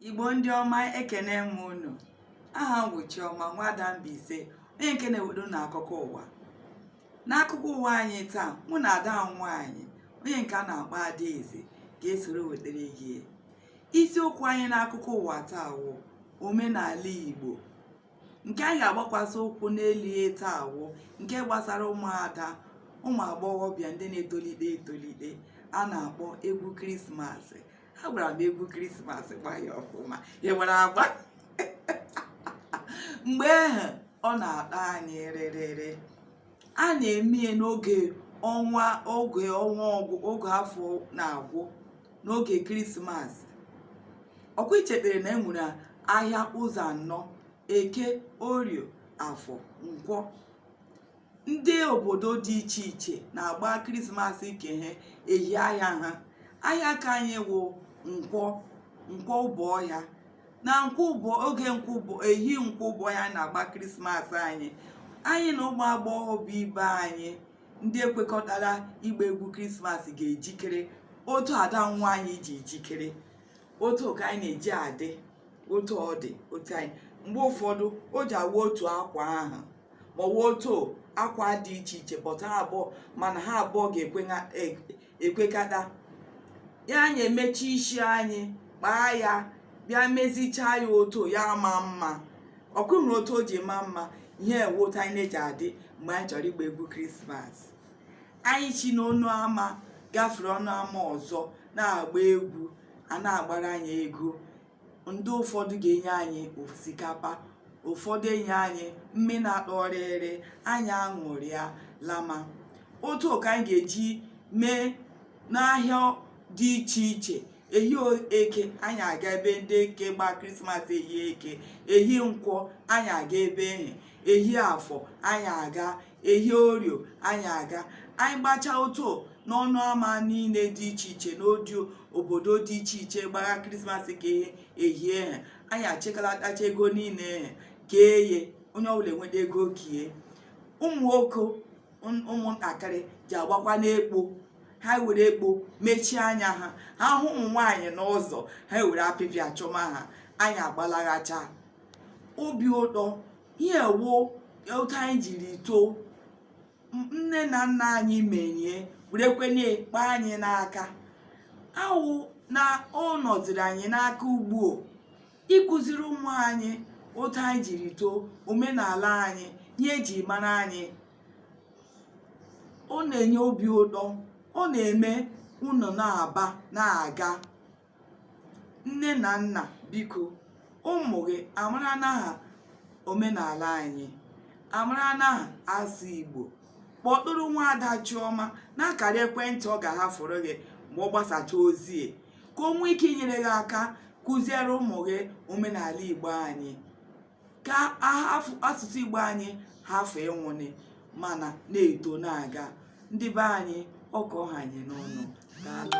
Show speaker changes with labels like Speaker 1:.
Speaker 1: igbo ndị ọma ekene m unu aha m wụ chiọma nwada Mbaise onye nke na-ewudo na akụkọ ụwa n'akụkọ ụwa anyị taa mụ na ada nwaanyị onye nke a na-akpọ adaeze ga-esoro wetere gị isiokwu anyị n'akụkọ ụwa taa wụ omenala igbo nke anyị ga-agbakwasị ụkwụ n'elu ye taa wụ nke gbasara ụmụada ụmụ agbọghọbịa ndị na-etolite etolite a na-akpọ egwu krismas agbara m egwu krismas gbaa ya ọfụma ya nwere agba mgbe ahụ ọ na-akpa anyị rịrịrị a na-eme ye n'oge ọnwa oge afọ na-agwụ n'oge krismas ọkwa ichetere na enwere ahịa ụzọ anọ eke orio afọ nkwọ ndị obodo dị iche iche na-agba krismas ke ha ehi ahịa ha ahịa ka anyị wụ nkwọ nkwọ Obohia na oge ehi nkwọ Obohia na-agba krismas anyị anyị na ụmụ agbọghọbịa ibe anyị ndị ekwekọtara ịgba egwu krismas ga-ejikere otu ada nwaanyị ji ejikere otu ka anyị na-eji adị otu ọ dị otu anyị mgbe ụfọdụ o ji awa otu akwa ahụ ma ọ wụ otu akwa dị iche iche but ha abụọ mana ha abụọ ga-ekwekata ya anyị emechi isi anyị kpaa ya bịa mezichaa ya otu ya ma mma ọkwa ị hụrụ otu o ji ma mma ihe wụ otu anyị na-eji adị mgbe anyị chọrọ ịgba egwu krismas anyị chi n'ọnụ ama gafere ọnụ ama ọzọ na-agba egwu a na-agbara anyị ego ndị ụfọdụ ga-enye anyị osikapa ụfọdụ enye anyị mme na-atọ ọrịrị anyị aṅụrịa lama otu ka anyị ga-eji mee n'ahịa dị iche iche ehi eke anyị aga ebe ndị eke gba krismas ehi eke ehi nkwọ anyị aga ebe ehe ehi afọ anyị aga ehi orio anyị aga anyị gbachaa otu n'ọnụ ama niile dị iche iche n'odio obodo dị iche iche gbagha krismas ka ehie ha anyị achịkalatacha ego niile kee ye onye ọwụla enweta ego kie ụmụ nwoke ụmụntakịrị ji agbakwanụ ekpo ha were ekpo mechie anya ha ha hụ ụmụ nwaanyị n'ụzọ ha were apịpịa chụma ha anyị agbalaghacha obi ụtọ ihe wụ otu anyị jiri too nne na nna anyị menye werekwenye kpa anyị n'aka awụ na ọ nọziri anyị n'aka ugbu a ịkụziri ụmụ anyị otu anyị jiri too omenala anyị ihe eji mara anyị ọ na-enye obi ụtọ ọ na-eme unu na-aba na-aga nne na nna biko ụmụ gị amara n'aha omenala anyị amara n'aha asụ igbo kpọtụrụ nwaada chiọma n'akara ekwentị ọ ga-ahafụrụ gị mgbe ọ gbasacha ozi ka o nwee ike inyere gị aka kụziere ụmụ gị omenala igbo anyị ka asụsụ igbo anyị hafụ ịnwụnị mana na-eto na-aga ndị be anyị ọ ka ọ ha anyị n'ọnụ daalụ